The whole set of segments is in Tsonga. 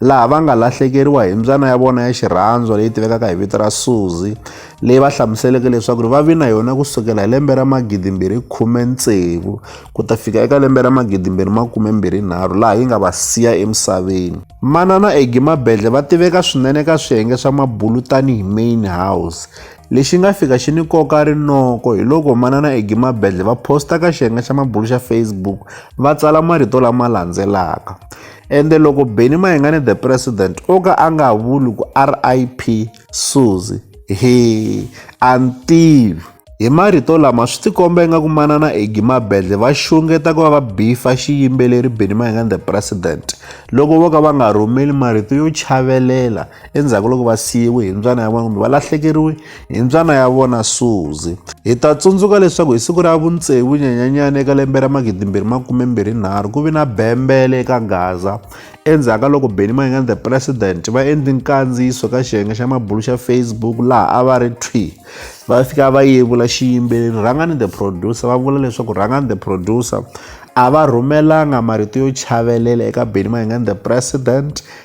laha va nga lahlekeriwa hi mbyana ya vona ya xirhandzwa leyi tivekaka hi vito ra Suzi leyi va hlamuseleke leswaku va vi na yona ku sukela hi lembe ra magidimbirhi khume tsevu ku ta fika eka lembe ra magidimbirhi makume mbirhi nharhu laha yi nga va siya emisaveni manana Egi Mabedle va tiveka swinene ka swiyenge swa mabulu tanihi main house lexi nga fika xi ni koka rinoko hi loko manana Egi Mabedle va posta ka xiyenge xa mabulu xa Facebook va tsala marito lama landzelaka ende loko beni mayengani the president o ka a nga vuli ku rip suzi he a ni tivi hi marito lama swi tikomba ingaku manana egi mabedle va xungeta ku va va bifa xiyimbeleri beni mayengani the president loko vo ka va nga rhumeli marito yo chavelela endzhaku loko va siyiwe hi mbyana ya vona kumbe va lahlekeriwe hi mbyana ya vona suzi hi ta tsundzuka leswaku hi siku ra vuntsevu nyanyanyana eka lembe ra magidimbirhi makumembirhinharhu ku vi na bembele eka gaza endzhaku ka loko benny mayingani the president va endli nkandziyiso ka xiyenge xa mabulu xa facebook laha a va ri twi va fika va yevula xiyimbeleri rhangani the producer va vula leswaku rhangani the producer a va rhumelanga marito yo chavelela eka benny mayingani the president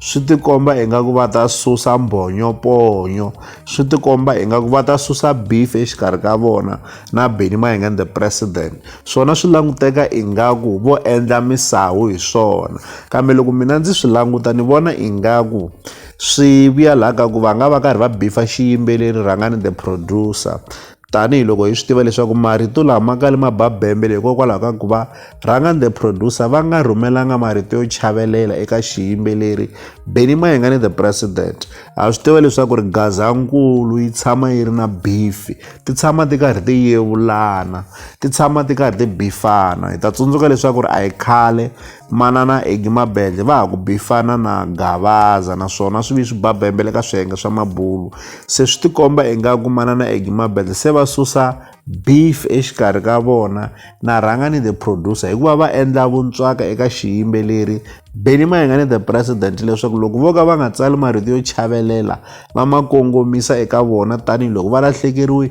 swi tikomba ingaku va ta susa mbhonyoponyo swi tikomba ingaku va ta susa beef exikarhi ka vona na Benny Mayengeni the president swona swi languteka ingaku vo endla misawu hi swona kambe loko mina ndzi swi languta ni vona ingaku swi vuya laha ka ku va nga va karhi va bifa xiyimbeleri rhangani the producer Tanihi loko hi swi tiva leswaku marito lama ma kale ma ba bembele hikokwalaho ka ku va Rhanga the Producer va nga rhumelanga marito yo chavelela eka xiyimbeleri Benny Mayengani the President. Ha swi tiva leswaku ri Gazankulu yi tshama yi ri na bifi, ti tshama ti karhi ti yevulana, ti tshama ti karhi ti bifana. Hi ta tsundzuka leswaku ri a hi khale manana Eggy Mabendle va ha ku bifana na Gavaza naswona swi vi swi ba bembele ka swiyenge swa mabulu se swi tikomba ingaku manana Eggy Mabendle se va susa beef exikarhi ka vona na rhanga ni the producer hikuva va endla vuntswaka eka xiyimbeleri Benny Mayengani the president leswaku loko vo ka va nga tsali marito yo chavelela va ma kongomisa eka vona tanihiloko va lahlekeriwe